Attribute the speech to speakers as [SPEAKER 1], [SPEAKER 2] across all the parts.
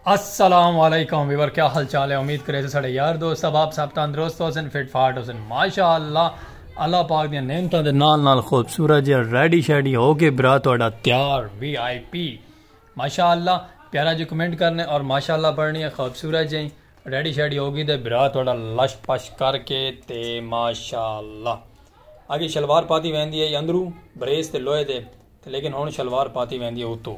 [SPEAKER 1] السلام علیکم ویور کیا حال چال ہے امید کرے سے سڑے یار دوست اب آپ سب تندرست ہو سن فٹ فاٹ ہو سن ماشاء اللہ اللہ پاک دیا نعمتوں دے نال نال خوبصورت جی ریڈی شیڈی ہو کے برا تہاڈا تیار وی آئی پی ماشاء اللہ پیارا جی کمنٹ کرنے اور ماشاء اللہ پڑھنی ہے خوبصورت جی ریڈی شیڈی ہوگی تے برا تھوڑا لش پش کر کے تے ماشاء اللہ اگے شلوار پاتی ویندی ہے اندرو بریس تے لوہے دے لیکن ہن شلوار پاتی ویندی ہے اتو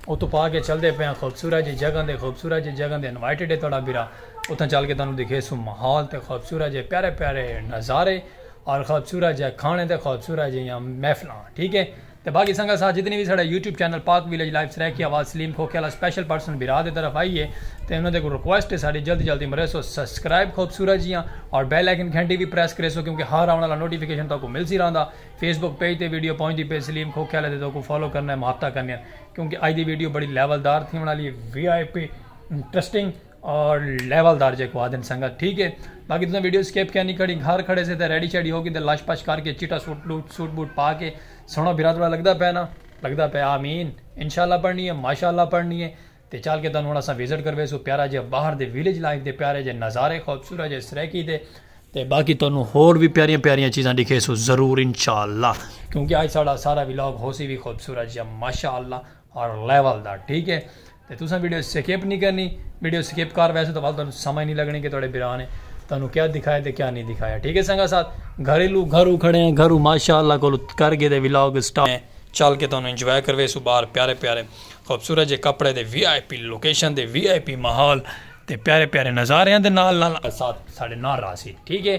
[SPEAKER 1] اتو پا کے چل دے پیا خوبصورت جی جگہ دے خوبصورت جی جگہ دے انوائٹڈ ہے تھوڑا برا اتھا چل کے تانوں دکھے سو ماحول تے خوبصورت جی پیارے پیارے نظارے اور خوبصورت جی کھانے تے خوبصورت جی محفلاں ٹھیک ہے تے باقی سنگت ساتھ جتنی وی ساڈا YouTube channel Pak village life Saraiki آواز سلیم کھوکھے آلا سپیشل پرسن بھرا دے طرف آئی ہے تے انہاں دے کول ریکویسٹ ہے ساڈی جلد جلد امریسو سسکرائب خوبصورت جیاں اور بیل آئیکن گھنٹی وی پریس کریسو کیونکہ ہر آون آلا نوٹیفیکیشن تہاکوں ملسی رہندا فیس بک پیج تے ویڈیو پہنچدی پئے سلیم کھوکھے آلے تے تہاکوں فالو کرنے محبتاں کرنیاں کیونکہ اج دی ویڈیو بڑی لیول دار تھیون آلی ہے وی آئی پی انٹرسٹنگ اور لیول دار جے کو آدن سنگت ٹھیک ہے باقی تساں ویڈیو سکیپ کیا نہیں کھڑی گھر کھڑے سے تے ریڈی چیڈی ہو گئی تے لش پش کر کے چٹا سوٹ بوٹ سوٹ بوٹ پا کے سونا بھرا تھوڑا لگدا پے نا لگدا پے آمین انشاءاللہ پڑھنی ہے ماشاءاللہ پڑھنی ہے تے چل کے تانوں ہن اساں وزٹ کروے سو پیارا جے باہر دے ویلیج لائف دے پیارے جے نظارے خوبصورت جے سریکی دے تے باقی تانوں ہور بھی پیاریاں پیاریاں چیزاں دکھے سو ضرور انشاءاللہ کیونکہ آج ساڑا سارا ولاگ ہو سی بھی خوبصورت جے ماشاءاللہ اور لیول دا ٹھیک ہے تے تساں ویڈیو سکپ نہیں کرنی ویڈیو سکپ کر ویسے تو ول تانوں سمجھ نہیں لگنی کہ تہاڈے بھرا نے تانوں کیا دکھایا تے کیا نہیں دکھایا ٹھیک ہے سنگا ساتھ گھریلو گھرو کھڑے ہیں گھرو ماشاءاللہ کولو کر گئے دے ولاگ سٹارٹ ہیں چل کے تانوں انجوائے کروے سو باہر پیارے پیارے خوبصورت جے کپڑے دے وی آئی پی لوکیشن دے وی آئی پی ماحول تے پیارے پیارے نظاریاں دے نال نال ساتھ ساڈے نال راسی ٹھیک ہے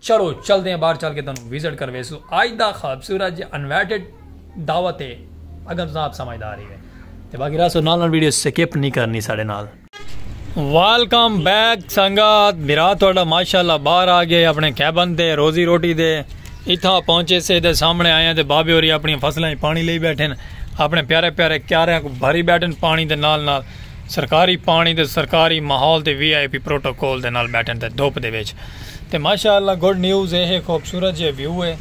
[SPEAKER 1] چلو چلدے ہیں باہر چل کے تانوں وزٹ کرویسو اج دا خوبصورت جے انوائٹڈ دعوت ہے اگر تساں آپ سمجھدار ہی ہے تے باقی راسو نال نال ویڈیو سکپ نہیں کرنی ساڑے نال ویلکم بیک سنگات بھرا تہاڈا ماشاءاللہ باہر آ گئے اپنے کیبن تے روزی روٹی دے اتھا پہنچے سے دے سامنے آئے ہیں تے بابے ہوری اپنی فصلاں پانی لئی بیٹھے اپنے پیارے پیارے کیارے کو بھری بیٹھے پانی دے نال نال سرکاری پانڑی تے سرکاری ماحول تے وی آئی پی پروٹوکول دے نال بیٹھن تے دھپ دے وچ تے ماشاء اللہ گڈ نیوز اے ہے خوبصورت جیہا ویو اے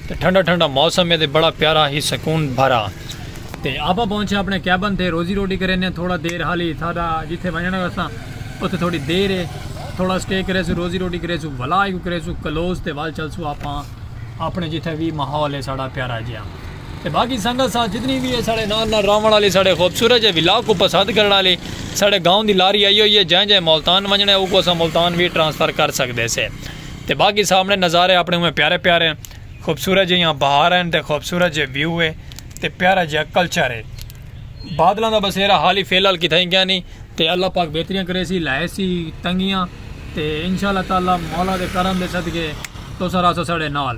[SPEAKER 1] تے ٹھنڈا ٹھنڈا موسم اے تے بڑا پیارا ہی سکون بھرا تے آپاں پہنچے اپنے کیبن تے روزی روٹی کرینے تھوڑا دیر حالی ساڈا جتھے ونجنڑ آلا ساں اتھے تھوڑی دیر اے تھوڑا اسٹے کریسوں روزی روٹی کریسوں ولا ایکوں کریسوں کلوز تے ول چلسوں آپاں اپنے جتھے وی ماحول اے ساڈا پیارا جیہا۔ تے باقی سنگت ساتھ جتنی وی ہے ساڑے نال نال راون آلی ساڑے خوبصورت جے ولاگ کوں پسند کرن آلی ساڑے گاؤں دی لاری آئی ہوئی ہے جیں جیں ملتان ونجنڑے اوکوں اساں ملتان وی ٹرانسفر کر سکدے سے تے باقی سامنڑے نظارے اپنڑے اوویں پیارے پیارے خوبصورت جیہاں بہار ہن تے خوبصورت جے ویو ہے تے پیارا جیہاں کلچر ہے بادلاں دا بسیرا حالی فی الحال کتھائیں گیا نہیں تے اللہ پاک بہتریاں کرے سی لائے سی تنگیاں تے انشاءاللہ تعالی مولا دے کرم دے صدقے تو سارا ساڑے نال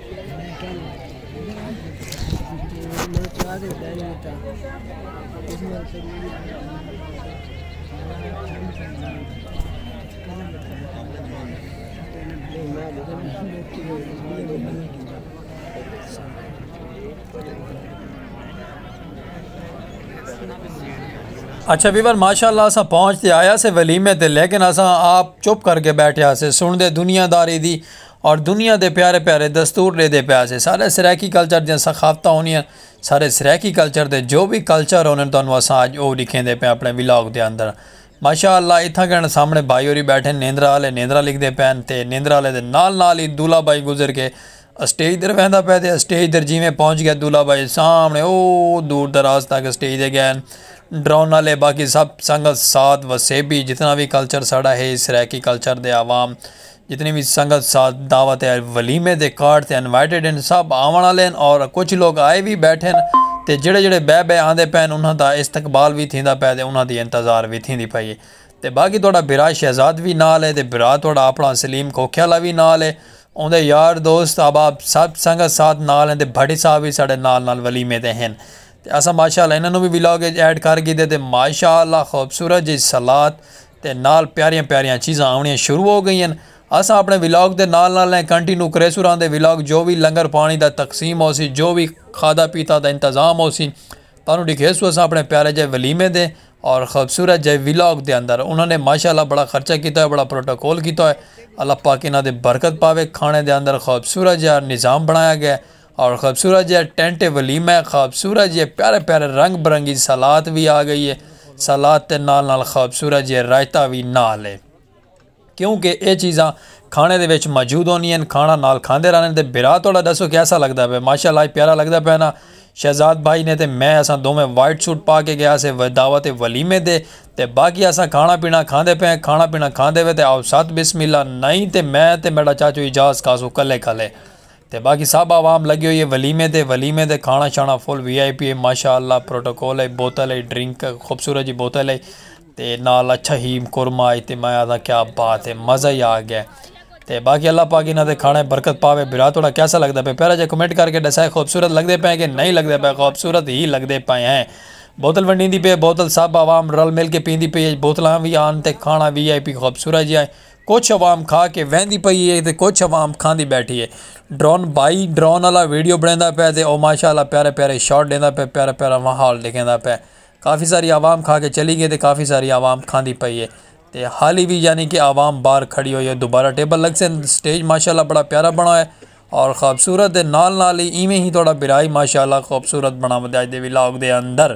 [SPEAKER 1] اچھا ویور ماشاء اللہ اساں پہنچتے آیا سے ولیمے تے لیکن اساں آپ چپ کر کے بیٹھے آسے سن دے دنیا داری دی اور دنیا دے پیارے پیارے دستور ڈیدے پیا سے سارے سرائیکی کلچر دیاں ثقافتاں ہونیاں سارے سرائیکی کلچر دے جو وی کلچر ہونن تانوں اساں اج اوہ ڈکھیندے پئے اپنے ولاگ دے اندر ماشاء اللہ اتھاں گن سامنے بھائی ہوری بیٹھن نیندرا آلے نیندرا لکھدے پئن تے نیندرا آلے دے نال نال ہی دولہ بھائی گزر کے اسٹیج در ویندا پئے تے اسٹیج در جیویں پہنچ گیا دولہ بھائی سامنے اوہ دور دراز تک اسٹیج دے گئے ڈرون آلے باقی سب سنگت ساتھ وسیبی جتنا وی کلچر ساڑا ہے سرائیکی کلچر دے عوام جتنی وی سنگت ساتھ دعوت ولیمے دے کارڈ تے انوائٹڈ ہن سب آون آلے ہن اور کچھ لوگ آئے وی بیٹھے ہن تے جیڑھے جیڑھے بئے بئے آندے پئے ہن انہاں دا استقبال وی تھیندا پئے تے انہاں دی انتظار وی تھیندی پئی ہے تے باقی تہاڈا بھرا شہزاد وی نال ہے تے بھرا تہاڈا اپنا سلیم کھوکھے آلا وی نال ہے اوندے یار دوست احباب سب سنگت ساتھ نال ہن تے بھٹی صاحب وی ساڈے نال نال ولیمے تے ہن تے اساں ماشاءاللہ انہاں نو وی ولاگ اچ ایڈ کر گھیدے تے ماشاءاللہ خوبصورت جئی صلات تے نال پیاریاں پیاریاں چیزاں آونیاں شروع ہو گئین اساں اپنے ولاگ دے نال نال ایں کنٹینو کریسوں رہندے ولاگ جو وی لنگر پانی دا تقسیم ہوسی جو وی کھادا پیتا دا انتظام ہوسی تانوں ڈکھیسوں اساں اپنے پیارے جئے ولیمے دے اور خوبصورت جئے ولاگ دے اندر انہاں نے ماشاءاللہ بڑا خرچہ کیتا ہوئے بڑا پروٹوکول کیتا ہوئے اللہ پاک انہاں دے برکت پاوے کھانے دے اندر خوبصورت جئے نظام بنایا گئے اور خوبصورت جی ٹینٹ ولیمہ ہے خوبصورت جی پیارے پیارے رنگ برنگی سلاد بھی آ گئی ہے سلاد تے نال نال خوبصورت جی رائتا بھی نال ہے کیونکہ یہ چیزاں کھانے دے وچ موجود ہونی ہیں کھانا نال کھاندے رہنے تے برا توڑا دسو کیسا لگدا پہ ماشاء اللہ پیارا لگدا پہ نا شہزاد بھائی نے تے میں اساں دو میں وائٹ سوٹ پا کے گیا سے دعوت ولیمے دے تے باقی اساں کھانا پینا کھاندے پہ کھانا پینا کھاندے پہ تے آؤ ساتھ بسم اللہ نہیں تے میں تے میرا چاچو اجاز کاسو کلے کلے تے باقی سب عوام لگی ہوئی ہے ولیمے تے ولیمے تے کھانا شانا فل وی آئی پی ہے ماشاء اللہ پروٹوکول ہے بوتل ہے ڈرنک خوبصورت جی بوتل ہے تے نال اچھا ہی قورمہ آئی تے میں آدھا کیا بات ہے مزہ ہی آ گیا تے باقی اللہ پاک انہاں دے کھانے برکت پاوے برا تھوڑا کیسا لگدا پے پہلا جے کمنٹ کر کے ڈسائے خوبصورت لگدے پے کہ نہیں لگدے پے خوبصورت ہی لگدے پے ہیں بوتل ونڈی دی پے بوتل سب عوام رل مل کے پیندی پی بوتلاں وی آن تے کھانا وی آئی پی خوبصورت جی آئے کجھ عوام کھا کے ویندی پئی اے تے کجھ عوام کھاندی بیٹھی اے۔ ڈرون بھائی ڈرون آلا ویڈیو بنڑیندا پے تے او ماشاء اللہ پیارے پیارے شاٹ ڈیندا پے پیارا پیارا ماحول ڈکھیندا پے کافی ساری عوام کھا کے چلی گئی تے کافی ساری عوام کھاندی پئی اے تے حالی وی یعنی کہ عوام باہر کھڑی ہوئی اے دوبارہ ٹیبل لگسن اسٹیج ماشاء اللہ بڑا پیارا بنڑا ہویا اے اور خوبصورت دے نال نال ہی ایویں ہی تہاڈا بھرا ہی ماشاء اللہ خوبصورت بنڑاوندے اج دے ولاگ دے اندر۔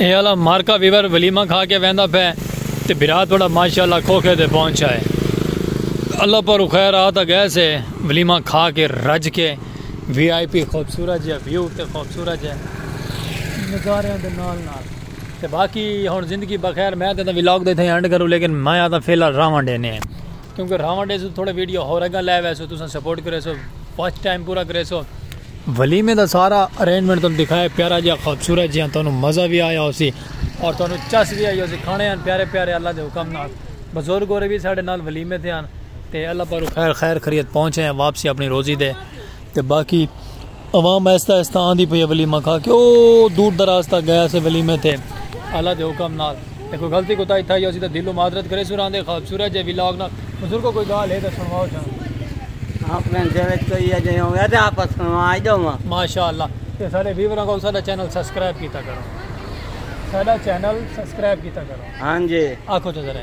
[SPEAKER 1] اے آلا مارکا ویور ولیمہ کھا کے ویندا پے تے بھرا تہاڈا ماشاءاللہ کھوکھے تے پہنچا ہے اللہ پاروں خیر آ تاں گئے سے ولیمہ کھا کے رج کے وی آئی پی خوبصورت جے ویو تے خوبصورت جے نظاریاں دے نال نال تے باقی ہن زندگی بخیر میں تے ولاگ دے تھے اینڈ کروں لیکن میں آتا فی الحال راواں ڈینے ہیں۔ کیونکہ راون ڈیسو تھوڑے ویڈیو ہور اگاں لے ویسو تساں سپورٹ کریسو واچ ٹائم پورا کریسو ولیمے دا سارا ارینجمنٹ تانوں دکھایا پیارا جہاں خوبصورت جہاں تانوں مزہ بھی آیا ہوسی اور تانوں چس بھی آئی ہوسی کھانے ہیں پیارے پیارے اللہ دے حکم نال بزرگ ہو رہے بھی ساڑھے نال ولیمے تھے ہیں تے اللہ پارو خیر خیر خرید پہنچے ہیں واپسی اپنی روزی دے تے باقی عوام آہستہ آہستہ آندی پئی اے ولیمہ کھا کے او دور دراز تک گئے اسے ولیمے تے اعلی دے حکم نال تے کوئی غلطی کوتاہی تھائی ہوسی تاں دلوں معذرت کریسوں راندے خوبصورت جے ولاگ نال بزرگو کوئی گالھ ہے تاں سنواؤ سانوں۔ اپݨے دل اچ کوئی ایہو جئیں ہووے تاں آپاں سنوا ݙیواں۔ ماشاءاللہ تے ساݙے ویوراں کوں ساݙا چینل سبسکرائب کیتا کرو ساݙا چینل سبسکرائب کیتا کرو ہاں جی آکھو تاں ذرا۔